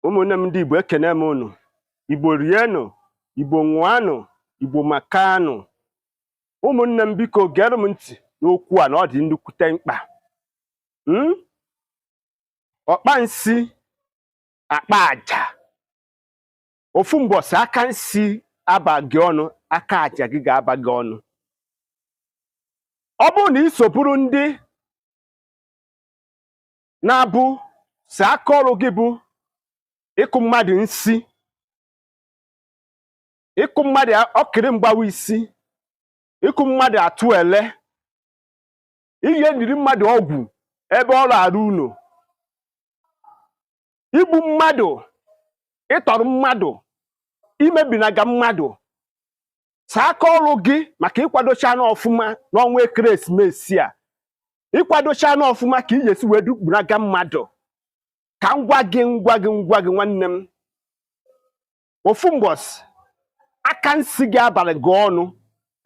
ụmụnne m ndị Igbo ekene m unu Igbo rienụ Igbo ṅụanụ Igbo makanụ ụmụnne m biko gere m ntị n'okwu a na ọ dị nnukwute mkpa hmm? ọkpa nsi akpa aja ofu mbọsị aka nsi abaghị ọnụ aka aja gị ga-aba gị ọnụ ọ bụrụ na ị soburu ndị na-abụ si aka ọrụ gị bụ ịkụ mmadụ nsi ịkụ mmadụ ọkịrị mgbawa isi ịkụ mmadụ atụ ele ije niri mmadụ ọgwụ ebe ọ na-arụ ụlọ igbu mmadụ ịtọrọ mmadụ imebinaga mmadụ saa aka ọrụ gị maka ịkwadochana ọfụma n'ọnwa ekeresimesi a ịkwadochana ọfụma ka ị ya-esi wee dukpuraga mmadụ ka m gwa gị m gwa gị m gwa gị nwanne m ofu mbọsị aka nsi gị abaghị gị ọnụ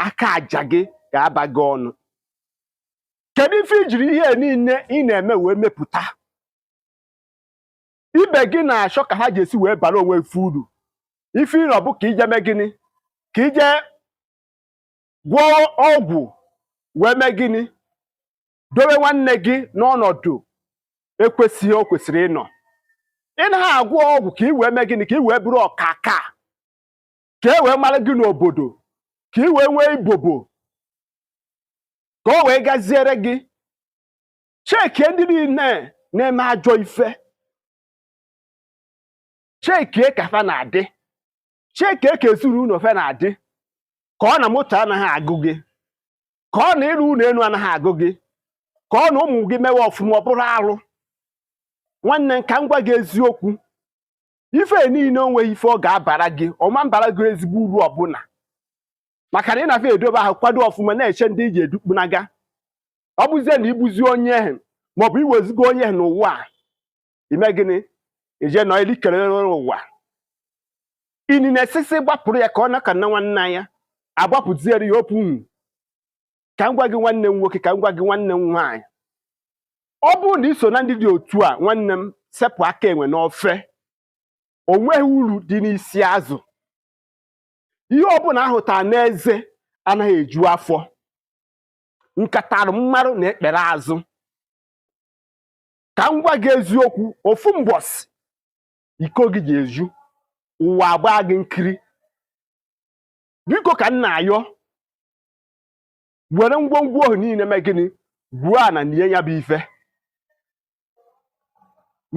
aka aja gị ga-aba gị ọnụ kedu ife ijiri ihe niile ị na-eme wee mepụta ibe gị na-achọ ka ha je-esi wee bara onwe fe uru ife ịrọ bụ ka ije mee gịnị ka ije gwọọ ọgwụ wee mee gịnị dowe nwanne gị n'ọnọdụ ekwesịghị o kwesịrị ịnọ ị naghị agwọ ọgwụ ka ị wee mee gịnị ka ị wee bụrụ ọkaka ka e wee mara gị n'obodo ka ị wee nwee ibobo ka o wee gaziere gị chekie ndị niile na-eme ajọ ife chekie ka fa na-adị chekie ka ezinụlọ fe na-adị ka ọ na moto anaghị agụ gị ka ọ na ịrụ ụlọ elu anaghị agụ gị ka ọ na ụmụ gị mewe ọfụma ọ bụrụ arụ nwanne m ka m gwa gị eziokwu ife niile o nweghị ife ọ ga-abara gị ọ ma-abara gị ezigbo uru ọbụla maka na ị na-afịa edobe ahụ kwado ọfụma na-eche ndị i je-edukpunaga ọ bụzie na igbuzi onye ehe maọbụ iwezigo onye ehe n'ụwa a ime gịnị ije nọ ili kelere ụwa ini na-esisi gbapụrụ ya ka ọ naka na nwanne ya agbapụziere ya opu nwu ka m gwa gị nwanne m nwoke ka m gwa gị nwanne m nwaanyị ọ bụrụ na iso na ndị dị otu a nwanne m sepụ aka enwe n'ofe o nweghị uru dị n'isi azụ ihe ọbụla ahụtara n'eze anaghị eju afọ nkatara mmarụ na ekpere azụ ka m gwa gị eziokwu ofu mbọsị iko gị ga-eju ụwa agbaa gị nkiri biko ka m na-ayọ were ngwongwo ahụ niile mee gịnị gwuo ana nie ya bụ ife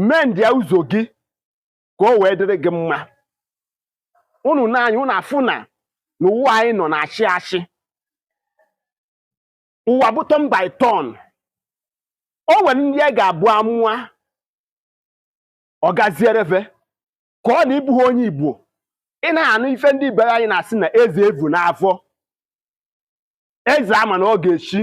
mendịa ụzọ gị ka o wee dịrị gị mma unu naanị unu afụ na n'ụwa anyị nọ na-achị achị ụwa bụ turn by turn o nwere ndị a ga-abụ a mụa ọ gaziere ve ka ọ na ị bụghị onye igbo ị naha anụ ife ndị be anyị na-asị na eze evu n'afọ eze a ma na ọ ga-echi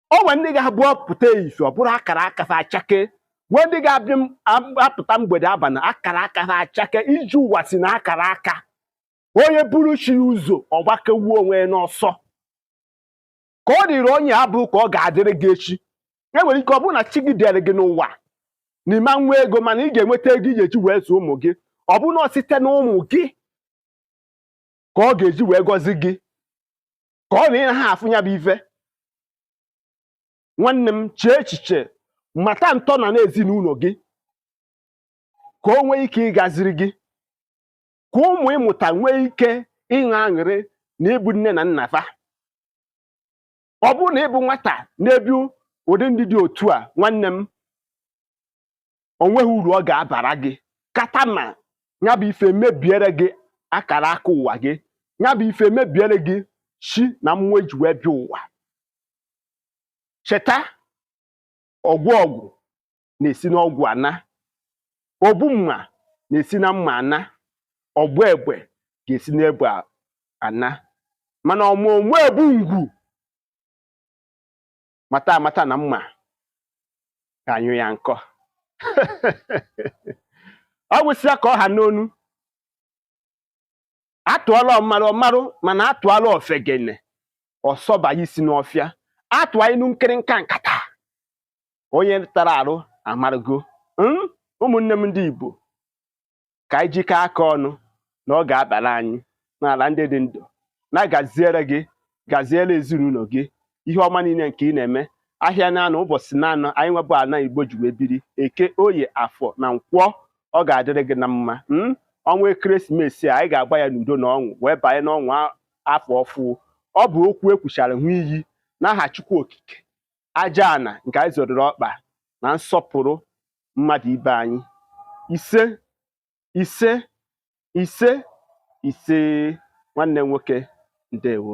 o nwere ndị ga-abụ ọ pụta efifie ọ bụrụ akara aka ha achakee nwee ndị ga-abịa m- ab- apụta mgbede abalị akara aka ha achakee ije ụwa si na akara aka onye buru chi ya ụzọ ọ gbagbuo onwe ya n'ọsọ ka ọ dịrị onye abụ ka ọ ga-adịrị gị echi e nwere ike ọ bụrụ na chi gị deere gị n'ụwa na ị ma-enwe ego mana ị ga-enweta ego ị ga-eji wee zụọ ụmụ gị ọ bụrụ na ọ site na ụmụ gị ka ọ ga-eji wee gọzie gị ka ọ na ị naha afụ ya bụ ife nwanne m chee echiche mata ntọana n'ezinụlọ gị ka o nwee ike ịgaziri gị ka ụmụ ị mụta nwee ike ịṅụ aṅụrị na ị bụ nne na nna fa ọ bụrụ na ị bụ nwata na-ebi ụdị ndụ dị otu a nwanne m o nweghị uru ọ ga-abara gị kata ma ya bụ ife emebiere gị akara aka ụwa gị ya bụ ife emebiere gị chi na mmụọ eji wee bịa ụwa cheta ọgwọ ọgwụ na-esi n'ọgwụ ana ogbu mma na-esi na mma ana ọgba egbe ga-esi n'egbe ana mana ọmụ mma egbu ngwu mata amata na mma ga-anyụ ya nkọ ọ gwụsịa ka ọ ha n'ọnụ atụọra ọmarụ ọ marụ mana atụọra ofegene ọ sọba isi n'ọfịa atụọ inu nkịrịnka nkata onye tara arụ amarụgo hmm? ụmụnne m ndị Igbo ka anyị jikọọ aka ọnụ na ọ ga-abara anyị n'ala ndị dị ndụ na gaziere gị gaziere ezinụlọ gị ihe ọma niile nke ị na-eme ahịa naanọ ụbọchị naanọ anyị nwebụ ala igbo ji wee biri eke oye afọ na nkwọ ọ ga-adịrị gị na mma hmm? ọnwa ekeresimesi a anyị ga-agba ya n'udo na ọṅụ wee banye n'ọnwa afọ ọfụụ ọ bụ okwu ekwuchara ṅụọ iyi n'aha Chukwu Okike aja ana nke anyị zọrịrị ọkpa na nsọpụrụ mmadụ ibe anyị ise ise ise ise nwanne nwoke ndewo